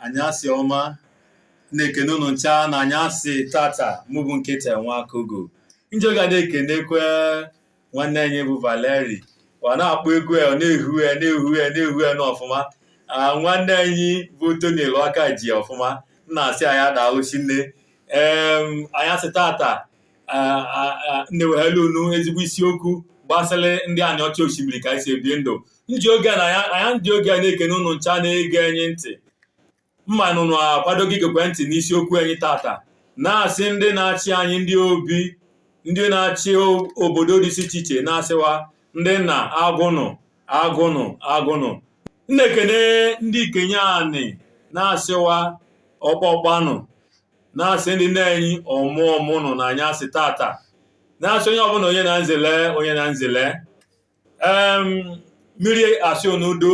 anyasị ọma na-ekene ụnụ ncha na anyasị tata mụ bụ nkechi nwa kogo njọga na-ekenekwe nwanne anyị bụ valeri ọ na-akpọ egwu ya ọ na-ehu ya na-ehu ya na-ehu ya n'ọfụma Ah, nwanne anyị bụ tony eluaka ji ọfụma m na-asị ya daalụ shinne em anyasị tata na-ewehalụ unu ezigbo isiokwu gbasịlị ndị aniocha oshimili ka anyị si ebi ndụ ndị oge na anya ndị oge a na-ekene ụnụ ncha na-ege anyị ntị m ma na ụnụ akwadogo igekwe ntị n'isiokwu anyị tata na-asị ndị na-achị anyị ndị obi ndị na-achị obodo dị iche iche na-asị wa ndị nna agụ nụ agụ nụ agụ nụ na-ekene ndị ikenye anị na-asị wa ọkpa ọkpa nụ na-asị ndị nne anyị ọmụ ọmụ nụ na anyasị tata na-asị onye ọbụla onye na nzele onye na nzele em mmiri asị onudo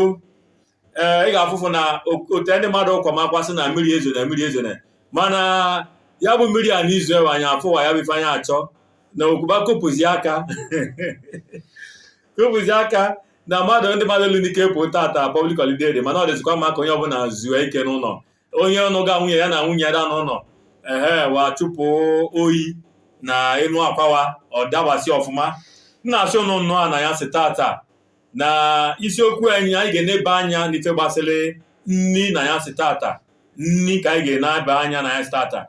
ee ị ga-afụfụ na otu ndị mmadụ kwama akwa sị na mmiri ezone mmiri ezone mana ya bụ mmiri a n'izu ewe anyị afụwa ya bụ ife anyị achọ na okwuba kopụzi aka kopụzi aka na mmadụ ndị mmadụ elu n'ike pụ tata public holiday dị mana ọ dịzikwa mma ka onye ọbụla zuo ike n'ụnọ onye nụga nwunye ya na nwunye ada n'ụnọ ehe wa chụpụ oyi na enu akwa wa ọ dabasị ọfụma m na-asị ụnụ nnụa na anyasị tata na isiokwu anyị anyị ga-eneba anya n'ife gbasịrị nni na anyasị tata nni ka anyị ga-eneba anya na anyasị tata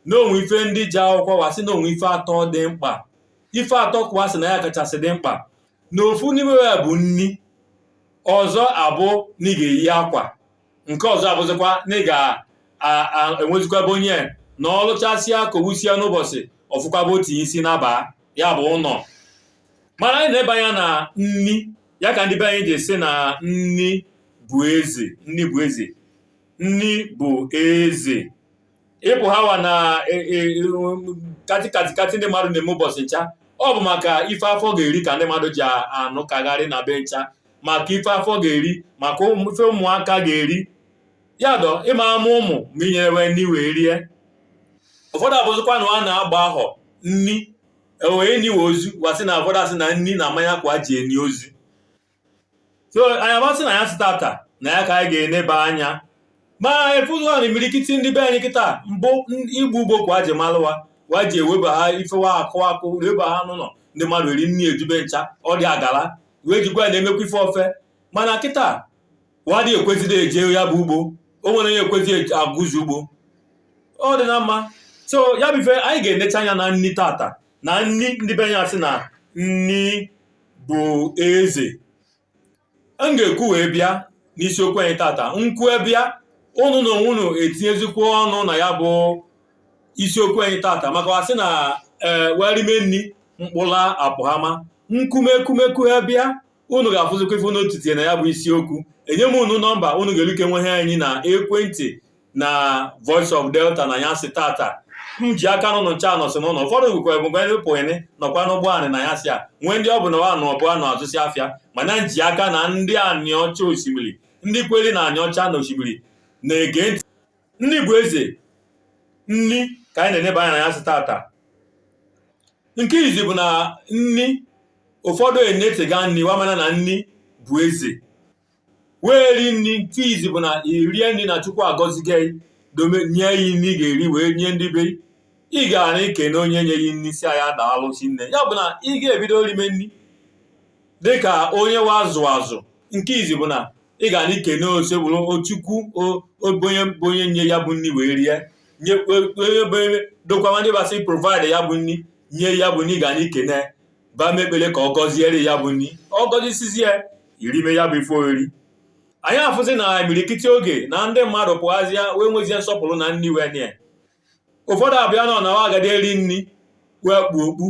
na o nwe ife ndị ji akwụkwọ wa sị na o nwe ife atọ dị mkpa ife atọ ka wa sị na ya kachasị dị mkpa na ofu n'ime ya bụ nni ọzọ abụ na ị ga-eyi akwa nke ọzọ abụzịkwa na ị ga-enwezikwa ebe onye na ọ lụchasịa ka o wusịa n'ụbọsị ọ fụkwa ebe o tinye isi naba ya bụ ụnọ mana anyị na-enebe anya na nni ya ka ndị be anyị ji sị na nni bụ eze nni bụ eze nni bụ eze ị pụha wa na katikatikati ndị mmadụ na-eme ụbọsị ncha ọ bụ maka ife afọ ga-eri ka ndị mmadụ ji anụ kagharị n'ebe ncha maka ife afọ ga-eri maka ife ụmụaka ga-eri ya dọ ịma ama ụmụ ma i nyere we nni we erie ụfọdụ abụzikwa na wa na-agbahọ nni e wee niwe ozu wa sị na ụfọdụ asị na nni na mmanya ka wa ji eni ozu so anyị abịa sị na anyasị tata na ya ka anyị ga-eneba anya ma ị fụzịa na imirikiti ndị be anyị kịta mbụ igbu ugbo ka wa ji malụ wa wa ji ewebaha ife wa kụ akụ ewebaha n'ụnọ ndị mmadụ eri nni eju ebe ncha ọ dị agala wee jikwa ya na-emekwa ife ofe mana kịta wa adị ekwezidi eje ya bụ ugbo o nwerọ onye ekwezi agụzi ugbo ọ dị na mma so ya bụ ife anyị ga-enecha anya na nni tata na nni ndị be anyị sị na nni bụ eze m ga-ekwu wee bịa n'isiokwu anyị tata nkwu bịa unu na onwe unu etinyezikwa ọnụ na ya bụ isiokwu anyị tata maka wa sị na wa rime nni mkpụla apụhama m kwume kwume kwuha bịa unu ga-afụzikwa ife unu titinye na ya bụ isiokwu enye m unu nọmba unu ga-eluke nwehe anyị na ekwentị na Voice of Delta n'anyasị tata m ji aka na unu ncha nọsị n'ụnọ ụfọdụ bụkwa ebụkwa ndị pụghịnị nọkwa n'ụgbọ anị n'anyasị a nwee ndị ọ bụ na wa nọ ọbụ na-azụsị afịa mana m ji aka na ndị Aniocha Oshimili ndị kweli na Aniocha na Oshimili na-ege ntị nni bụ eze nni ka anyị na-eneba anya n'anyasị tata nke izi bụ na nni ụfọdụ enetega nni wa amana na nni bụ eze wee ri nni nke izi bụ na i rie nni na Chukwu agọzigo gị dome nye gị nni ị ga-eri wee nye ndị be gị. ị ga na-ekene onye nye gị nni sị ya daalụ sinne ya bụ na ị ga-ebido rime nni dịka onye wa zụ azụ nke izi bụ na ị ga na-ekene Osebuluwa Chukwu onye bụ onye nye ya bụ nni wee rie nye onye bụ ebe dokwawa ndị ba sị provide ya bụ nni nye ya bụ nni ga na-ekene ba mee ekpele ka ọ gọziere ya bụ nni ọ gọzisizie i rime ya bụ ife oriri anyị afụzi na imirikiti oge na ndị mmadụ pụhazịa wee nwezie nsọpụlụ na nni wee nye ụfọdụ abịa nọ na wa ga-adị eri nni wee kpu okpu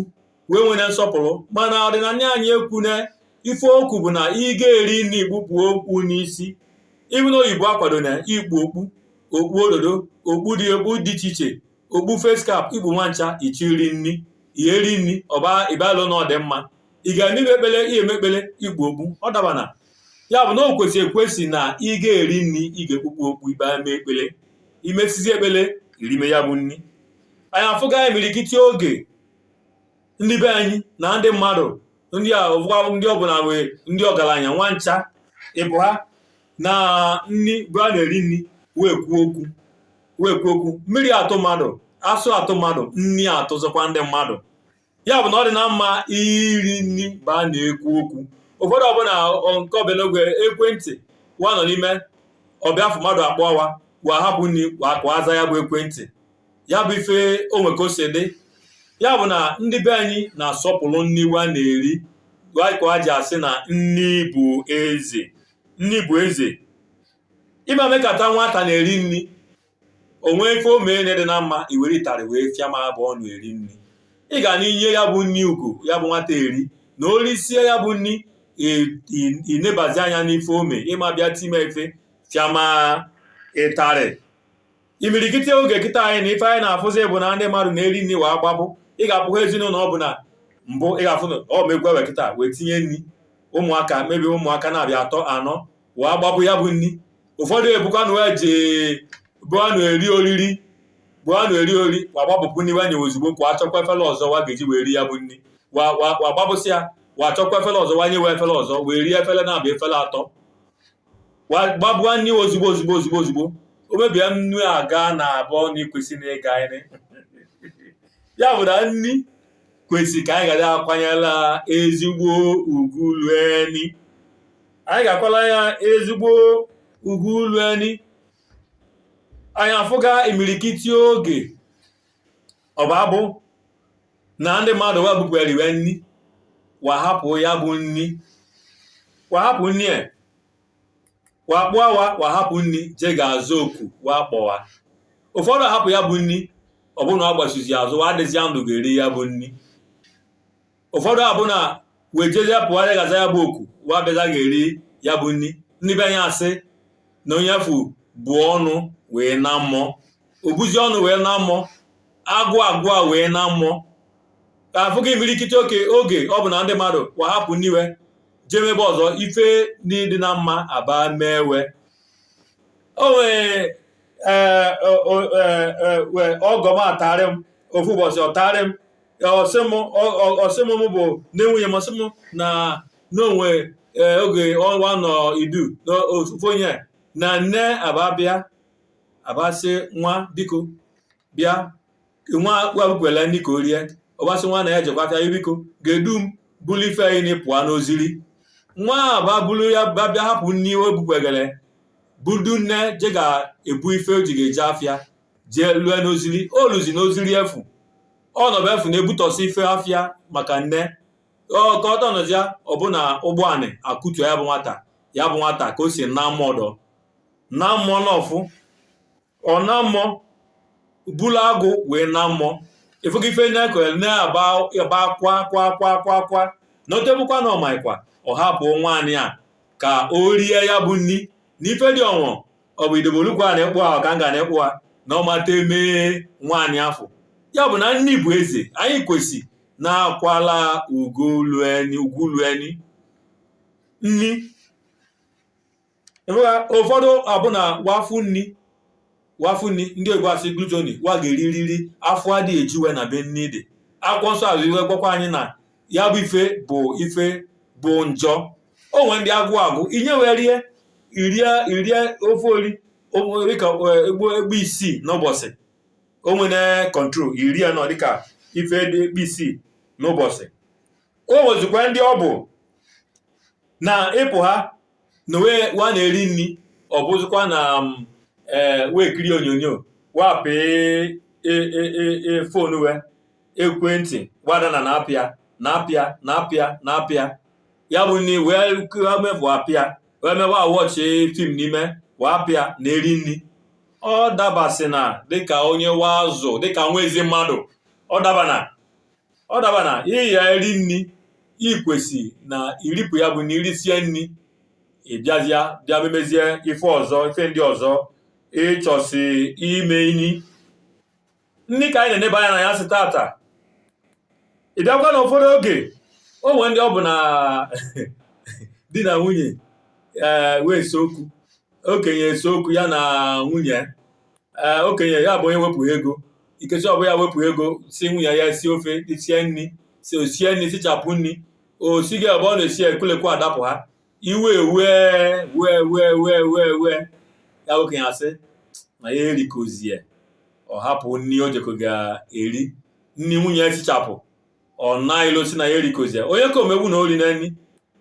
wa enwene nsọpụlụ mana ọdịnanị anyị ekwuna ife o kwu bụ na ị ga-eri nni i kpupụ okpu n'isi even oyibo akwadona ikpu okpu okpu ododo okpu dị okpu dị iche iche okpu face cap i kpu wa ncha ị chọ iri nni ị ya-eri nni ọba ịbalụ na ọ dị mma ị ga na-eme ekpele ị ya-eme ekpele i kpu okpu ọ dabana ya bụ na o kwesị ekwesị na ị ga-eri nni ị ga-ekpupụ okpu i wee mee ekpele i mesizi ekpele i rime ya bụ nni anyị afụga imirikiti oge ndị be anyị na ndị mmadụ ndị a ụfụkwa ndị ọbụla wee ndị ọgalanya wa ncha i buha na nni ba na-eri nni wee kwuo okwu wee kwuo okwu mmiri atụ mmadụ asụ atụ mmadụ nni atụzikwa ndị mmadụ ya bụ na ọ dịna mma iri nni ba na-ekwu okwu ụfọdụ ọbụna nke ọ bịa n'oge ekwentị wa nọ n'ime ọ bịa afọ mmadụ akpọ wa wa hapụ nni wa ka aza ya bụ ekwentị ya bụ ife o nwe ka o si dị ya bụ na ndị be anyị na-asọpụlụ nni wa na-eri wa ka ji asị na nni bụ eze nni bụ eze ịma mekata nwata na-eri nri o nwee ife o mee na dị na mma i were ịtarị wee fịa ma ọ bụ ọ na-eri nri ị ga na enye ya bụ nri ugwu ya bụ nwata eri na o risie ya bụ nri i nebazie anya n'ife o mee ịma bịa time ife fịama ịtarị imirikiti oge kịta anyị na ife anyị na-afụzi bụ na ndị mmadụ na-eri nri wa agbabụ ị ga-afụ ezinụlọ ọ bụ na mbụ ị ga-afụ na ọ megwe wekịta wee tinye nri ụmụaka maybe ụmụaka naabọ atọ anọ wa agbapụ ya bụ nri ụfọdụ ọ bụkwa na wa eje ebe a na-eri oriri ebe a na-eri oriri wa gbapụpụ nri wanye ozugbo kwa achọkwa efere ọzọ wa ga-eji wee ri ya bụ nri wa wa wa gbapụsị ya wa achọkwa efere ọzọ wanye wa efere ọzọ wee rie efere naabọ efere atọ wa gbabụa nri ozugbo ozugbo ozugbo ozugbo o mebie nnu a ga na-abụ na ikwesị na ịga anyị ya bụ na nri kwesị ka anyị ga na-akwanyela ezigbo ugwu lue nri anyị ga-akwala ya ezigbo ugwu lue nri anyị afụga imirikiti oge ọ ba abụ na ndị mmadụ wa bupụ riwe nri wa hapụ ya bụ nri wa hapụ nri a wa kpọọ wa wa hapụ nri je ga-aza oku wa kpọ wa ụfọdụ hapụ ya bụ nri ọ bụrụ na a gbachizi azụ wa adịzi ndụ ga-eri ya bụ nri ụfọdụ abụ na wa ejezie pụọ je ga-aza ya bụ oku wa bịazie ga-eri ya bụ nri ndị be anyị asị na onye afụ bu ọnụ wee naa mmụọ o buzi ọnụ wee naa mmụọ agụụ agụụ wee naa mmụọ ka afụga imirikiti oke oge ọ bụ na ndị mmadụ wa hapụ nri wee jee mebe ọzọ ife na-adị na mma aba mee wa o nwere ee ọgọ m atarị m ofu ụbọchị ọ tarị m ọ sị m bụ nne nwunye m ọ sị m na na o nwee, oge wa nọ Idu na ofu onye na nne aba bịa aba sị nwa biko bịa nwa ya bukwele nri ka o rie ọ ba sị nwa na ya jekwa aka biko ga-edu m bulu ife anyị na pụọ n'oziri nwa aba bulu ya ba bịa hapụ nri o bukwegele budu nne je ga-ebu ife o ji ga-eje afịa jee lue n'oziri o luzi n'oziri efu ọ nọ ebe afụ na-ebutọsị ife afịa maka nne ya ka ọ tọnọzịa ọ bụ na ụgbọ anị akụtu ya bụ nwata ya bụ nwata ka o si naa mmụọ dọ na mmụọ n'ọfụ ọ naa mmụọ bulu agụụ wee naa mmụọ ị fụgo ife ndị akụrụ na-aba aba kwa kwa kwa kwa kwa na o te bụkwa na ọ makwa ọ hapụ nwa ya ka o rie ya bụ nri na ife dị ọnwụ ọ bụ idobolukwu a na-ekpụ ahụ ka m ga na-ekpụ ha na ọmata emee nwaanyị afọ ya bụ na nni bụ eze anyị kwesị na-akwala ugwu lueni ugwu lueni nni ị hụla ụfọdụ ọ bụ na wa fụ nni wa fụ nni ndị Igbo asị gluttony wa ga-eririri afọ adịghị eju wa n'ebe nni dị akwụkwọ nsọ asị wee gwakwa anyị na ya bụ ife bụ ife bụ njọ o nwere ndị agwụ agwụ i nye wa erie irie irie ofe ori o- dịka eh, ugbo ugbo isii n'ụbọsị o nwere control iri ya nọ dịka ife dị ugbo isii n'ụbọsị o nwezikwa ndị ọ bụ na ị pụha na wa na-eri nni ọ bụzikwa na mm, eh, wee kirie onyonyo wa pị phone wee ekwentị wa da na na-apịa na-apịa na-apịa na-apịa ya bụ nni wee mebụ apịa wee mee wa watch film n'ime wa apịa na-eri nni ọ dabasị na dịka onye wa zụ dịka nwa ezi mmadụ ọ dabana ọ dabana ị ya-eri nni i kwesị na i ripụ ya bụ na i risie nni ị bịazịa bịa memezie ife ọzọ ife ndị ọzọ ị chọsị ime inyi nni ka anyị na-eneba anya n'anyasị tata ị bịakwa na ụfọdụ oge o nwere ndị ọ bụ na di na nwunye ee wa ese okwu okenye ese okwu ya na nwunye ee okenye ya bụ onye wepụ ego ikechi ọ bụ ya wepụ ego sị nwunye ya sie ofe sie nni sị o sie nni sichapụ nni o si gị ebe ọ na-esi ekwulekwu adapụha iwe ewe wee wee wee wee wee ya bụ okenye asị na ya erikozie ọ hapụ nni o jekọ ga-eri nni nwunye ya sichapụ ọ na-elosi na ya erikozie onye ka o megbu na o rina nni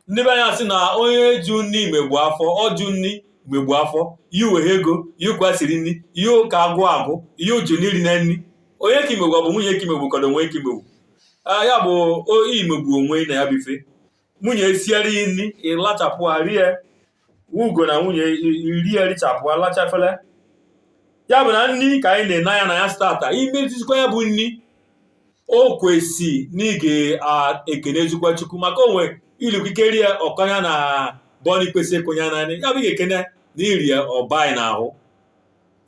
ndị be anya sị na onye jụ nni megbu afọ ọ jụ nni megbu afọ yụ weha ego yụ kwa e siri nni yụ ka agụụ agụ yụ jụ n'i rina nni onye ka i megbu ọ bụ nwunye ka i megbu ka ọ bụ onwe i ka i megbu Ah, ya bụ o- i megbu onwe i na ya bụ ife nwunye esiere i nni ị lachapụ rie ugo na nwunye i erie richapụ a lachaa afele ya bụ na nni ka anyị na-ene anya n'anyasị tata i metụzikwa ya bụ nni o kwesị na ị ga-ekenezikwa Chukwu maka onwe ilikike rie ọkọnya na bọni kwesị ịkụnya naanị ya bụ ị ga-ekene na i rie ya ọ baa anyị n'ahụ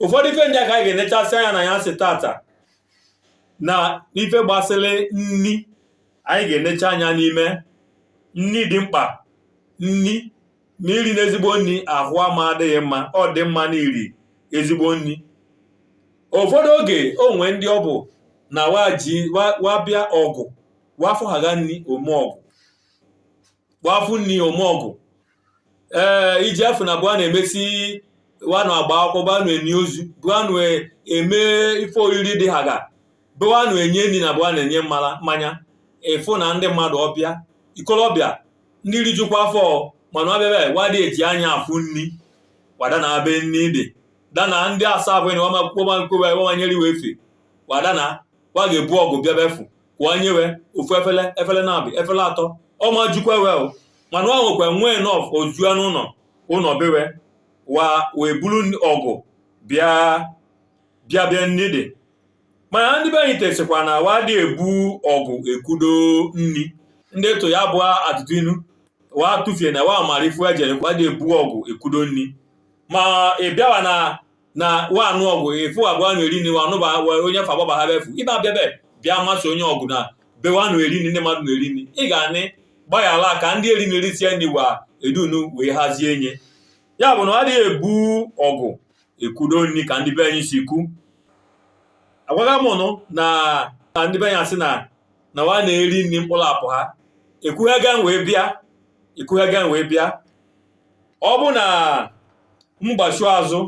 ụfọdụ ife ndị a ka anyị ga-enechasị anya n'anyasị tata na ife gbasịrị nni anyị ga-enecha anya n'ime nni dị mkpa nni ma i rina ezigbo nni ahụ ama adịghị mma ọ dị mma na i ri ezigbo nni ụfọdụ oge o nwe ndị ọ bụ na wa ji wa wa bịa ọgụ wa fụ ha ga nni o mee ọgụ wa fụ nni o me ọgụ ee iji afụ na bụa na-emesi wanụ agba akwụkwọ banụ eni ozu bụanụ eme ife oriri dị ha ga bụanụ enye nni na bụa na-enye mmara mmanya ịfụ na ndị mmadụ ọbịa ikolobịa ndị rijukwa afọ mana ọbịa wa dị eji anya afụ nni wa da na be nni dị dana ndị asaa bụ na wamakwụkwọ mankwewa wamanyere iwe efe wadana wa ga-ebu ọgụ bịa befu kwụọ nyewe ofu efele efele naabụ efele atọ ọ ma jukwa we o mana ọ nwekwa nwee nọf ozu a n'ụnọ ụnọ be we wa wee bulu ọgụ bịa bịa bịa nni dị mana ndị be anyị tesikwa na wa dị ebu ọgụ ekudo nni ndị etu a bụ atụtụ inu wa tụfie na wa mara ifu ejere wa dị ebu ọgụ ekudo nni ma ị bịawa na na wa anụ ọgụ efu abụọ anụ eri nni wa anụ ba wa onye fa gbaba ha befu ibe abịa be bịa masị onye ọgụ na be wa anụ eri nni ndị mmadụ na-eri nni ị ga-anị gbaghara ka ndị eri nni risie nni wa edunu wee hazie nye ya bụ na ọ adịghị ebu ọgụ ekudo nni ka ndị be anyị si kwu agwaga m ụnụ na na ndị be anyị asị na na wa na-eri nni mkpụrụ apụ ha ekwughega m wee bịa ekwughega m wee bịa ọ bụ na m gbachu azụ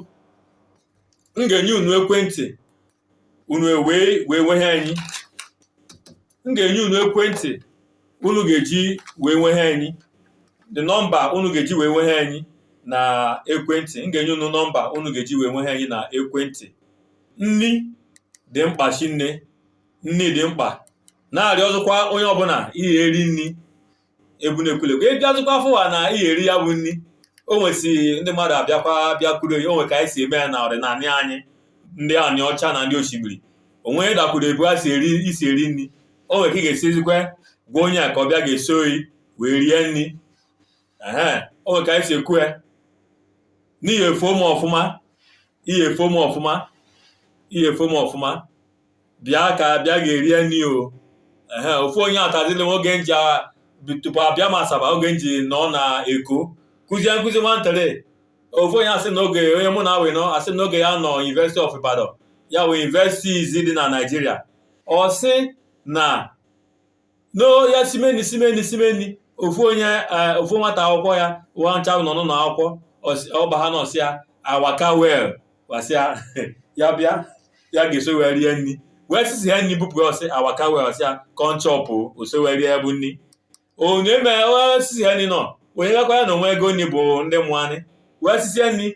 m ga-enye unu ekwentị unu ewee wee nwehe anyị m ga-enye unu ekwentị unu ga-eji wee nwehe anyị the nọmba unu ga-eji wee nwehe anyị na ekwentị m ga-enye unu nọmba unu ga-eji wee nwehe anyị na ekwentị nni dị mkpa shinne nni dị mkpa na-arịọ ọzọkwa onye ọbụna ihe eri nni ebu na-ekwulekwu ị bịazụkwa fụwa na ị eri ya bụ nni o nwesi ndị mmadụ abịakwa bịakwuru ya o nwe ka anyị si eme ya na ọdịnala anyị ndị Aniocha na ndị Oshimili onwe dakwuru ebu a si eri isi eri nni o nwere ka ị ga-esizikwa gwa onye a ka ọ bịa ga-eso yi wee rie nni ee o nwere ka anyị si ekwu ya n'ihi efuo m ọfụma ihe efuo m ọfụma ihe efuo m ọfụma bịa ka bịa ga-erie nni o ehe ofu onye atazili m oge nji a- bi- tupu abịa m Asaba oge nji nọ na Eko kụzie nkụzi nwantere ofu onye asị na oge onye mụ na we nọ asị na oge ya nọ University of Ibadan ya wee universities dị na Naịjirịa ọ sị na na ya simeni simeni simeni ofu onye eh, ofu nwata akwụkwọ ya na wa ncha nọ n'ụlọ akwụkwọ ọs- ọ baha na ọ sị ya a waka well wa sị ya ya bịa ya ga-eso wee rie nni wee sisi ya nni bupụ ya ọ sị a waka well ọ sị ya come chop o so wee rie ya bụ nni onye mee o sisi ya nni nọ onye gakwa ya na o nwe ego nni bụ ndị mụanị wee sisi ya nni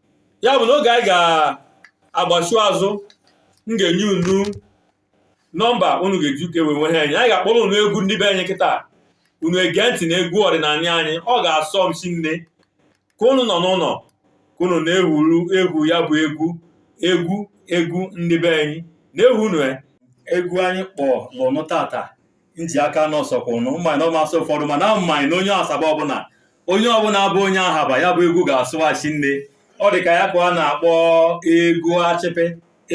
ya bụ na oge anyị ga-agbachu azụ m ga-enye unu nọmba unu ga-eji uke wee nwehe anyị anyị ga-akpọrọ unu egwu ndị be anyị kịta unu ege ntị na egwu ọdịnanị anyị ọ ga-asọ m shinne ka unu nọ n'ụnọ ka unu na-ehuru egwu ya bụ egwu egwu egwu ndị be anyị na-ehu unu ya egwu anyị kpọọnụ unu tata nji aka n'ọsọ kwụ na m maị na ọ masị ụfọdụ mana m maị na onye asaba ọbụna onye ọbụna bụ onye ahaba ya bụ egwu ga-asọ wa shinne ọ dị ka ya ka a na-akpọ egwu achịpị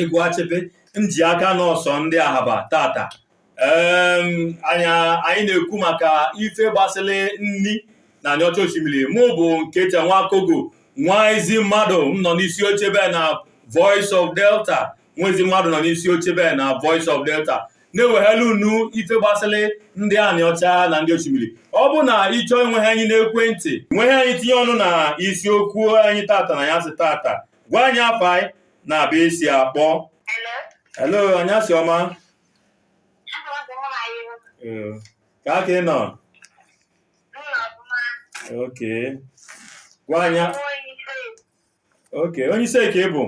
egwu achịpị nji aka n'ọsọ ndị ahaba tata anyị na-ekwu maka ife gbasịlị nni na aniocha oshimili mụ bụ Nkechi Nwakogo nwa ezi mmadụ m nọ n'isi oche be na Voice of Delta nwa ezi mmadụ nọ n'isi oche bee na Voice of Delta na-ewehela unu ife gbasịlị ndị aniocha na ndị oshimili ọ bụ na ị chọọ inwehe anyị n'ekwentị nwehe anyị tinye ọnụ na isiokwu anyị tata n'anyasị tata gwa anyị afa ị na ebe i si akpọ hello anyasị ọma ka aka ị nọ okay gwa anyị okay onye isei ka ị bụ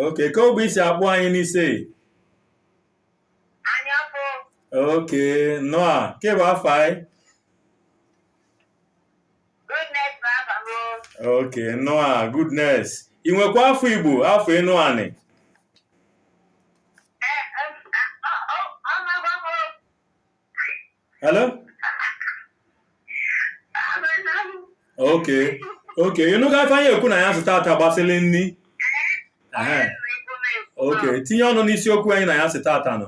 okay kee ogbe i si akpọ anyị n'isei Anya bụ okay noa kee bụ afa ị goodness bụ afa m. okay noa goodness ị nwekwa afa igbo afa enuani hello okay okay ị nụga ife anyị ekwu n'anyasị tata gbasịrị nni Ehe. okay tinye ọnụ n'isiokwu anyị n'anyasị tata nụ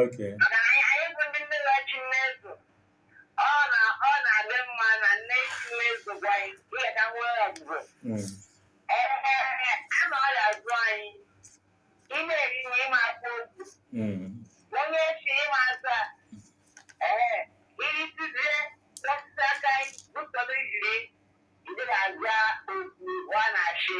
okay ọ na ọ na-adị mma na nne isi na-ezo gwa anyị ihe ka nwee ọgwụgwọ Mm. ee a na ọrịa zụ anyị ị na-eri na ịma akpọ okwu Mm. onye si ịma azụ a ee iri tizie osisi aka anyị bụtọrọ ijiri ndị na-azụ okwu ọ na-achị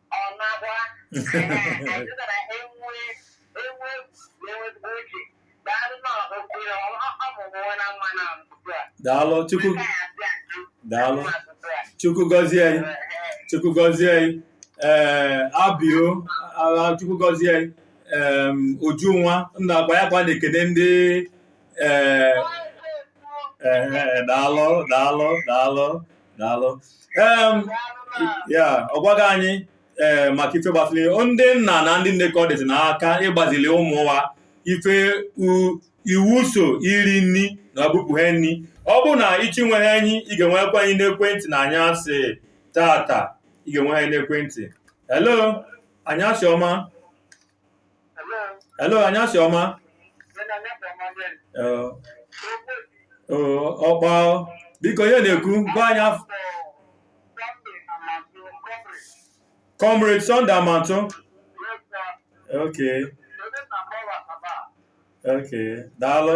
daalụ chukwu daalụ chukwu gọzie ị chukwu gọzie ị ee abio chukwu gọzie ị ujunwa nna agba ya kwa na-ekene ndị ee ee daalụ daalụ daalụ daalụ ya ọ gwago anyị ee maka ife gbasịrị ndị nna na ndị nne ka ọ dịzi n'aka ịgbazili ụmụ wa ife iwu so iri nni na ọbụpụ ha nni ọ bụrụ na ị chọọ inwe anyị ị ga-enwekwa anyị n'ekwentị n'anyasị tata ị ga-enwe anyị n'ekwentị hello anyasị ọma hello anyasị ọma okay biko onye na-ekwu gwa anyị afa comrade Sunday Amantu okay okay daalụ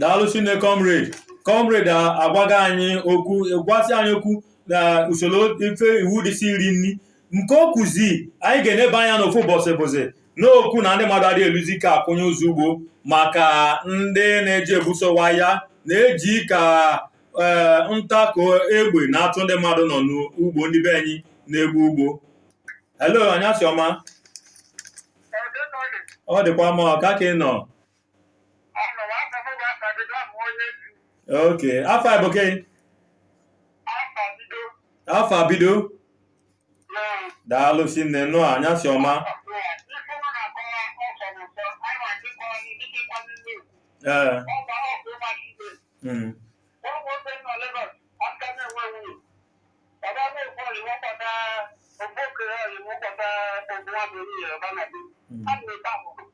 daalụ sinne comrade comrade agwago anyị okwu gwasị anyị okwu na usoro ife iwu dịsị iri nri nke o kwuzi anyị ga-eneba anya n'ofu ụbọsị bụzi n'okwu na ndị mmadụ adịghị eluzi ka akwụnye ụzọ ugbo maka ndị na-eji ebuso wa aya na-eji ka eh, ntakụ egbe na-atụ ndị mmadụ nọ n'ugbo ndị be anyị na-egbu ugbo hello anyasị ọma ọ dịkwa mma ka ka ị nọ ok afa bụ gị afa bido daalụ sinne nụ anyasị ọma ee mm.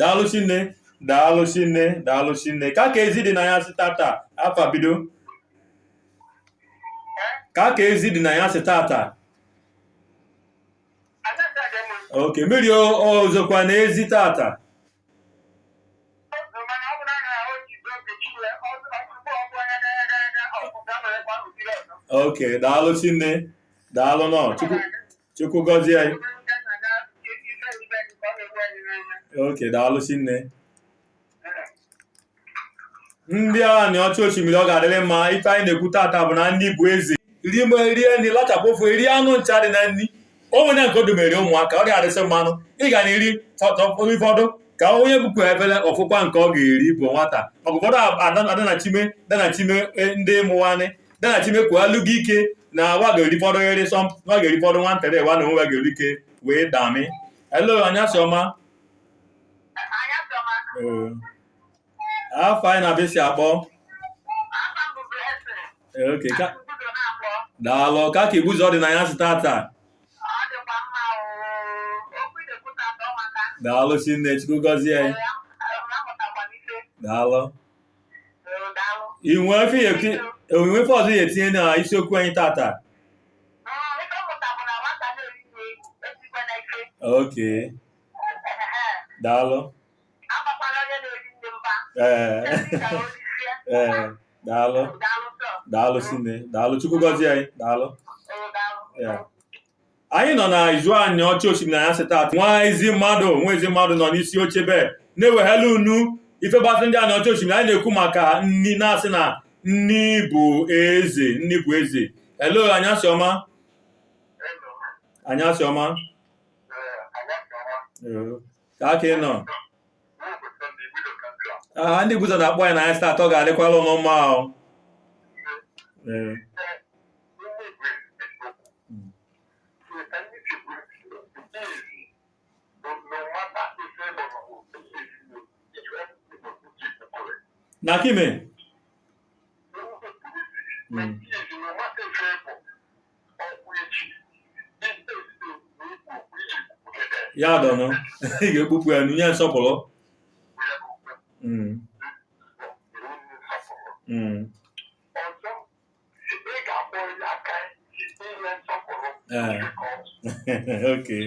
daalụ sinne daalụ sinne daalụ sinne ka ka ezi dị n'anyasị tata afa bido ka ka ezi dị n'anyasị tata okay mmiri ozokwa na ezi tata okay daalụ sinne daalụ nụ Chukwu gọzie anyị okay daalụ sinne ndị Aniocha Oshimili ọ ga-adịrị mma ife anyị na-ekwu tata bụ na nni bụ eze rie ma rie nri lachapụ ofe eri anụ ncha dị na nri o nwe na nke o domere ụmụaka ọ ga-adịsị mmanụ ị ga na-erifọdụ ka onye bupụ efele ọ fụkwa nke ọ ga-eri bụ nwata maka ụfọdụ adanachime danachime e, ndị mụwanị danachime kwuo alụ gị ike na wa ga-eri fọdụ eri sọ wa ga-eri fọdụ nwantịrị wa na onwe wa ga-eri ike wee dami hello anyasị ọma Eh. Afa ị na ebe i si akpọ? Eh, okay, ka daalụ ka ka Igbuzo dị n'anyasị tata daalụ sinne chukwu gọzie anyị daalụ i nwe ife ị ya-eti- i nwe ife ọzọ ị ya-etinye na isiokwu anyị tata okay daalụ ee ee daalụ daalụ sinne daalụ chukwu gọzie anyị daalụ anyị nọ na Izu Aniocha Oshimili anyasị taata nwa ezi mmadụ nwa ezi mmadụ nọ n'isi oche be na-ewehela unu ife gbasa ndị Aniocha Oshimili anyị na-ekwu maka nni na-asị na nni bụ eze nni bụ eze hello anyasị ọma anyasị ọma ka aka ị nọ aha ndị Igbuzo na-akpọ anyị n'anyasị tata ọ ga-adịkwala unu mma ahụ na kime Mm. ya dọnụ ị ga-ekpupụ ya nye nsọpụrụ Mm, mm, eh, okay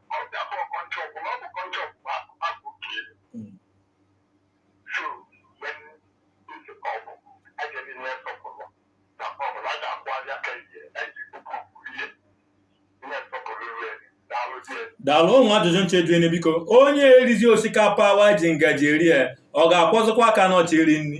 daalụ ụmụ ajụjụ nche juene biko onye erizi osikapa wa ji ngaji eri ya ọ ga-akwọzịkwa aka n'ọ chọ iri nri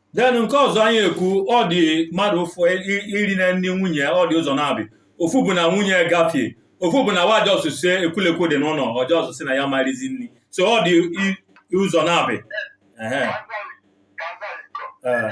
then nke ọzọ anyị ekwu ọ dị mmadụ ụfụ iri nni nwunye ọ dị ụzọ naabị ofu bụ na nwunye gafie ofu bụ na waja ọsụsụ ekwulekwu dị n'ụlọ ọjọ ọsụsụ na ya ma-erizi nri so ọ dị i- i ụzọ naabị Ehe. Ee.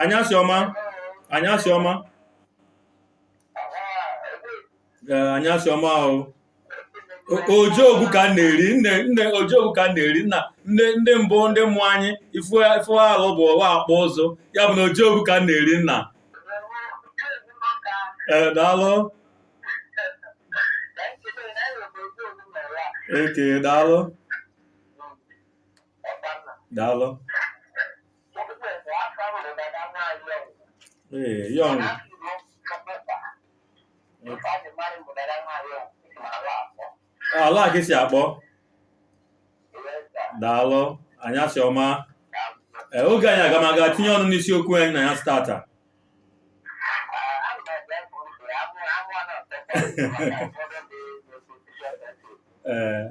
anyasị ọma anyasị ọma ee anyasị ọma o ojeogwu ka m na-eri nne nne ojeogwu ka m na-eri nna ndị ndị mbụ ndị mụ anyị ife ife alụ bụ wa akpụ ụzụ ya bụ na ojeogwu ka m na-eri nna ee daalụ eke daalụ daalụ Ee, ya ọnwụ. Ala ka i si akpọ. Daalụ. Anyasị ọma. Ee, oge anyị agamaga tinye ọnụ n'isiokwu anyị n'anyasị taata. Ee,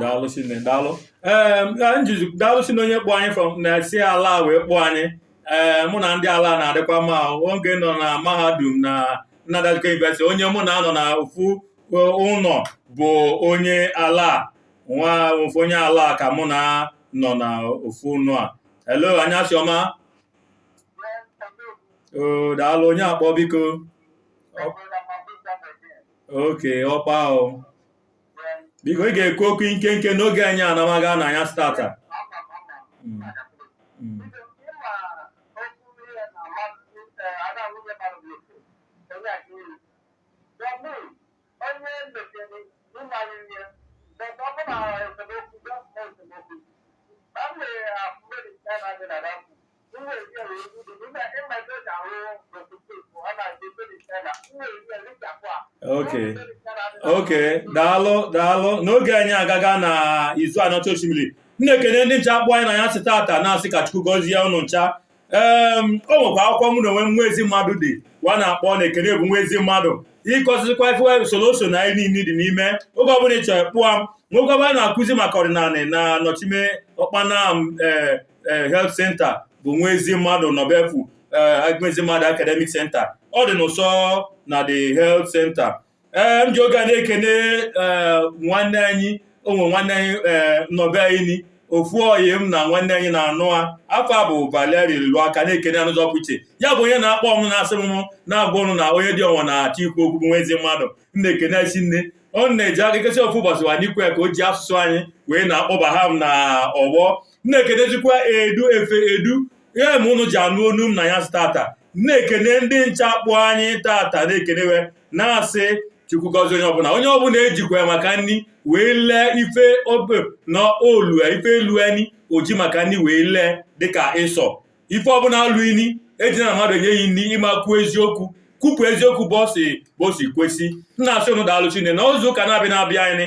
daalụ shinne daalụ ee njizi daalụ shinne onye kpọ anyị from na si ala wee kpọ anyị ee mụ na ndị ala na-adịkwa mma oge m nọ na mahadum na Nnamdi Azikiwe University onye mụ na a nọ na ofu ụnọ bụ onye ala nwa ofu onye ala ka mụ na a nọ na ofu ụnọ a hello anyasị ọma daalụ onye akpọ biko okay ọkpa ahụ biko ị ga-ekwu okwu nkenke n'oge anyị anamaga n'anyasị taata Okay. Okay. Daalụ daalụ n'oge anyị agaga na Izu Aniocha Oshimili m na-ekene ndị ncha kpọ anyị n'anyasị taata na-asị ka Chukwu gọzie ụnụ ncha ee o nwekwa akwụkwọ mụ na onwe nwa ezi mmadụ dee wa na-akpọ na ekene bụ nwa ezi mmadụ ịkụzikwa ife usoro oso na anyị niile dị n'ime oge ọbụla ị chọrọ kpọọ m nwoke ọbụla na-akụzi maka ọdịnanị na nọchime Ọkpanam ee eh, health center bụ nwa ezi mmadụ nọbefu eh, nwa ezi mmadụ academic center ọ dị n'ụsọ na the health center ee eh, m ji oge a na-ekene nwanne anyị o nwe nwanne anyị nọ be anyị ofu ọyị m na nwanne anyị na-anụ a afọ a bụ Valerie Lụaka na-ekene a n'ụzọ pụrụ iche ya bụ onye na-akpọ ụnụ na-asị m na-agwa ụnụ na onye dị ọnwa na-achọ ikwu okwu bụ nwa ezi mmadụ m na-ekene i shinne ọ na-eji aka ikesi ofu ụbọchị wa n'ikwe ka o ji asụsụ anyị wee na-akpọbaha m na ọgbọ na-ekenezikwa edu efe edu ya ma ụnụ ji anụ onu m na ya tata na-ekene ndị ncha kpọ anyị tata na-ekenewe na-asị chukwu gọzie onye ọbụla onye ọbụla ejikwana maka nri wee lee ife obe na olu ya ife elu anyị oji maka nri wee lee dịka ịsọ ife ọbụla alụ ini eji na mmadụ enye ya nri ịma kwuo eziokwu kwupụ eziokwu ụbọsị kwesị m na-asị ụnụ daalụ chine n'izu ụka na-abịa na-abịa anyị